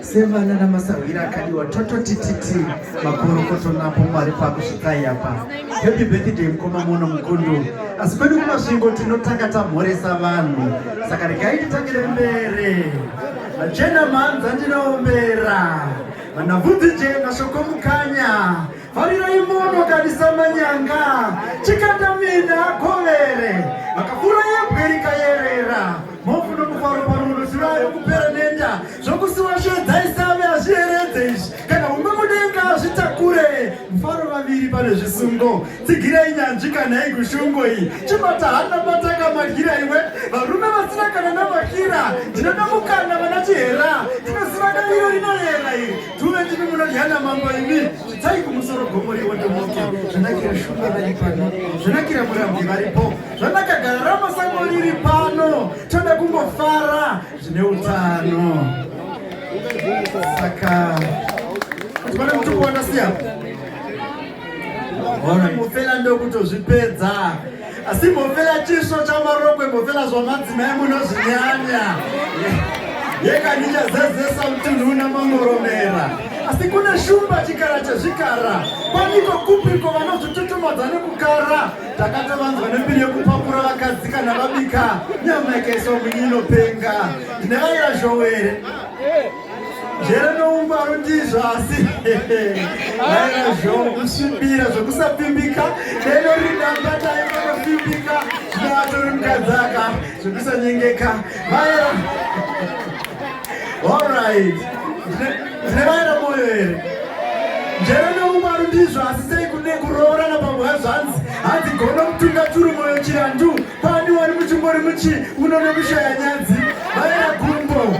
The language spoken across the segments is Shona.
sevana namasahwira akadiwa tototititi makorokoto napo mwari pakusvikai apa happy birthday mukoma mono mukundu asi kwedu kumasvingo tinotanga tamhoresa vanhu saka regai titangire mbere vachena mhanza ndinombera vanabvudzi je mashoko mukanya vharirai mono kadisa manyanga chikata mina govere makafura yebweri kayerera mhofu nokufaro parurusi vayo kupera nenda zvokusiwa shedza isave hazviyeredze izvi kana umwe mudenga azvitakure mufaro vaviri pane zvisungo tsigirei nyanzvi kana igushungo iyi chibata hana bataka magira iwe varume vasina kana namakira ndinoda mukana vana chihera tinoziva damiro rinoyera iri Tuve ndimi munodyana mambo imi chidzai kumusoro gomo riondomoke zvanakira shumba vari pano zvanakira murambwi varipo zvanaka gara ramasango riri pano toda kungofara zvine utano saka kuti pane mutukuona siya ora mufela ndokutozvipedza asi mbofela chisvo chamarokwe mbofela zvamadzimai munozvinyanya yekandichazezesa mutunhu una mamoromera asi kune shumba chikara chezvikara paniko kupiko vanozvitutumadza nekukara takatavanzwa nembiri yekupakura vakadzi kana vabika nyama ikaiswa munyi inopenga ndine vaira zhowere njere noungwaru ndizvo asi naizvozvosvibira zvokusapfimbika deno ridambatai vanopfimbika zvinovatori mukadzaka zvokusanyengeka vaera allright ndine vaera moyo here njere noungwaru ndizvo asi sei kune kuroorana pamwe hazvanzi hanzi gono kutunga turi moyo chirandu pani wari muchingori muchi unonokushaya nyadzi vaera gumbo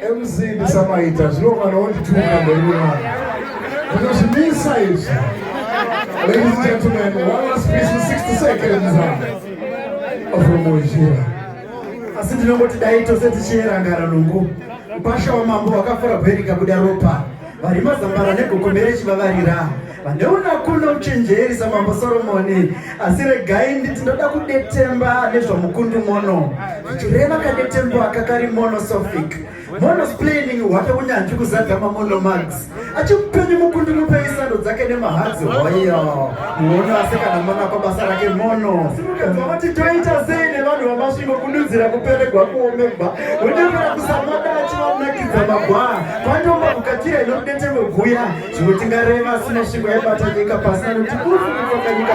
MC ndisamaita zvino kana wondituka mberi wevana ndinozvimisa izvi ladies and gentlemen one last piece in 60 seconds afromoishira asi ndinongoti dai tose tichiyera ngara lungu mpasha wamambo wakafura bheri kabuda ropa vari mazambara negokomere chivavarira Paneuno hakuna uchenjeri samambo Soromoni, asi regai nditi ndoda kudetemba nezvamukundu mono, zvichireva kadetembo aka kari monosophic monosplaining hwake unyanzvi kuzadza mamonomax achimupenyu mukundu mupei sando dzake nemahadzi hoyo muono asi kana mona kwabasa rake mono vati toita sei nevanhu vamasvingo kududzira kuperegwa kuomegwa wodevera kusamada achivanakidza magwaa kwanyomba kukatira inorudetemwe guya Zvimwe tingareva asina shingo yaibata nyika pasina nekuti kuri kunotoka nyika